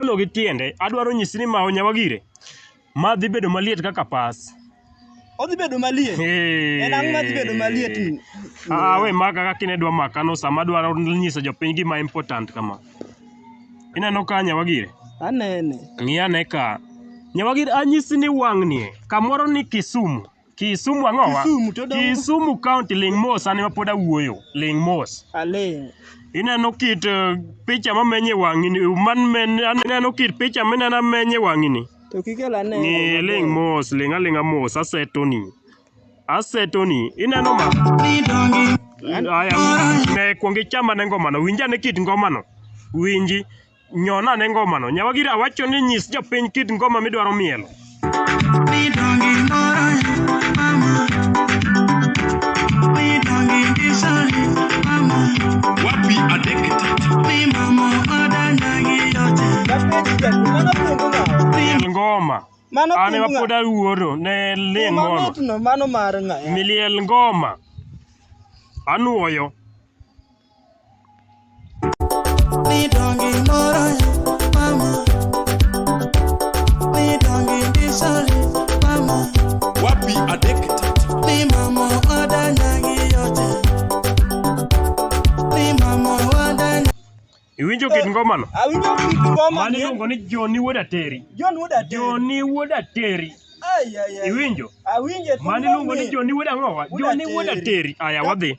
Kagolo gi tiende, adwaro nyisi ni mawo nyawa gire. Ma dhi bedo maliet kaka pas. Odhi bedo maliet. Hey. En ang'o madhi bedo maliet? Ah, we maka kaka ine dwa maka no sama dwaro nyiso jopiny gima important kama. Ineno ka nyawa gire? Anene. Ng'i ane ka. Nyawa gire anyisi ni wang'ni kamoro ni Kisumu. Kisumu ang'o wa? Kisumu to dongo. Kisumu County ling mos an ema pod awuoyo. Ling mos. Aling'. Ineno kit eh, picha ma menye wang'ini, man men aneno kit picha mineno menye wang'ini. To kikel ane. Ng'i ling mos, ling aling'a mos, asetoni. Asetoni, ineno ma? Aya, ne kwong ichama ne ngomano, winja ne kit ngomano. Winji. Nyon ane ngomano. Nyawagira awacho ni nyis jopiny kit ngoma midwaro mielo. Midongi moro mama Midongi ndisoni mama Wapi adek tatu Mi mama odanyagi yote Miel ngoma. Mano An ema pod awuoro ne ling ngono. Manotno mano mar ng'a? Miliel ngoma. Anuoyo. Iwinjo kit ngomano? Awinjo kit ngomano. Mano iluongo ni Joni Wuod Ateri. Joni Wuod Ateri. Joni Wuod Ateri. Iwinjo? Awinjo. Mano iluongo ni Joni Wuod Ang'owa. Joni Wuod Ateri. Aya wadhi.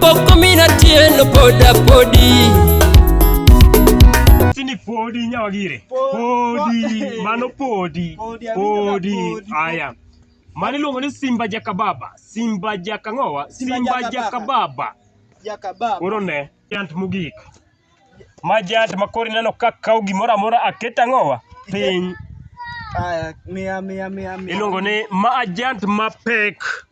Pok omina tieno poda podi. Sini podi nyawagire. Podi. Mano podi. Podi, Amina, Podi. podi. Aya. Mano iluongo ni Simba Jakababa. Simba Jakang'owa. Simba Simba Jakababa. Jakababa. Jakababa. Koro ne. Jant mogik. Ma jant ma koro ineno ka kawo gimoro amora aket ang'owa piny. Aya, mia mia mia mia. Iluongo ni ma ajant mapek.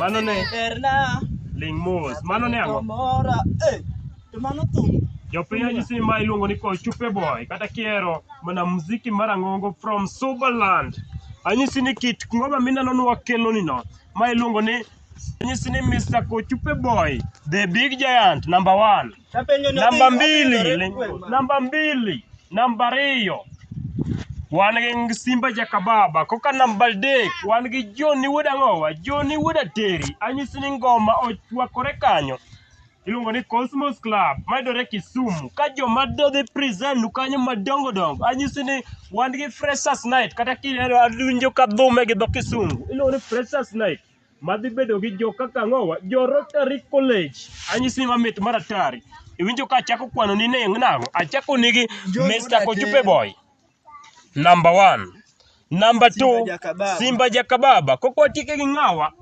Mano ne ling mos. Mano ne ang'o? Eh, to mano thum. Jopiny anyisi ma iluongo ni Kochupe Boy kata kiero mana muziki marang'ongo from Subaland. Anyisi ni kit ngoma mineno ni wakelo ni no ma iluongo ni anyisi ni Mr. Kochupe Boy the big giant number one. Namba mbili, namba mbili, namba ariyo wan gi Simba Jakababa. Koka namba adek wan gi Joni Wuod Ang'owa, Joni Wuod Ateri. Anyisi ni ngoma ochwakore kanyo. Iluongo ni Cosmos Club mayudore Kisumu. Ka joma do dhi present nu kanyo madongo dongo, anyisi ni wan gi Freshers Night kata kidendo awinjo ka dhume gi dho Kisungu. Iluongo ni Freshers Night. madhi bedo gi jo kaka ang'owa jo Rotary College. Anyisi ni mamit mar atari. Iwinjo ka achako kwano ni neng' nang'o? Achako nigi Mr. Kochupe Boy. Number one. Number two, Simba Jakababa. Koko atike gi ng'awa.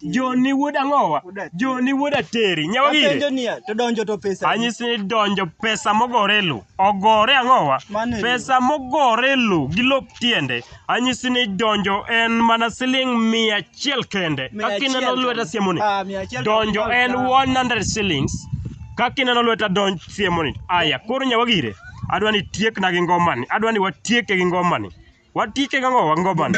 Joni wuod ang'owa. Joni wuod ateri. Nyawa gire. Apenjo niya, to donjo to pesa. Anyisi ni donjo pesa mogore lu. Ogore ang'owa. Mane lu. Pesa mogore lu gi lop tiende. anyisi ni donjo en mana siling mia achiel kende Mia kaka ineno achiel lweta kende. siemoni Ah, mia achiel donjo kende. en 100 shillings kaka ineno lweta donj siemoni aya koro nyawagire adwa ni tiekna gi ngomani adwa ni watieke gi ngomani watieke gi ang'o wa ngomani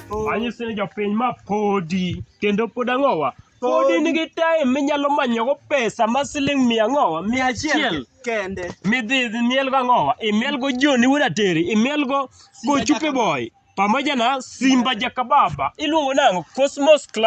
Anyisi ni jopiny ma podi kendo pod ang'owa podi nigi time minyalo manyogo pesa ma siling' mia ang'owa mia achiel kende midhi imielgo ang'owa imielgo joni wuod ateri imielgo kochupe boy pamoja na simba jakababa iluongo nang'o cosmos club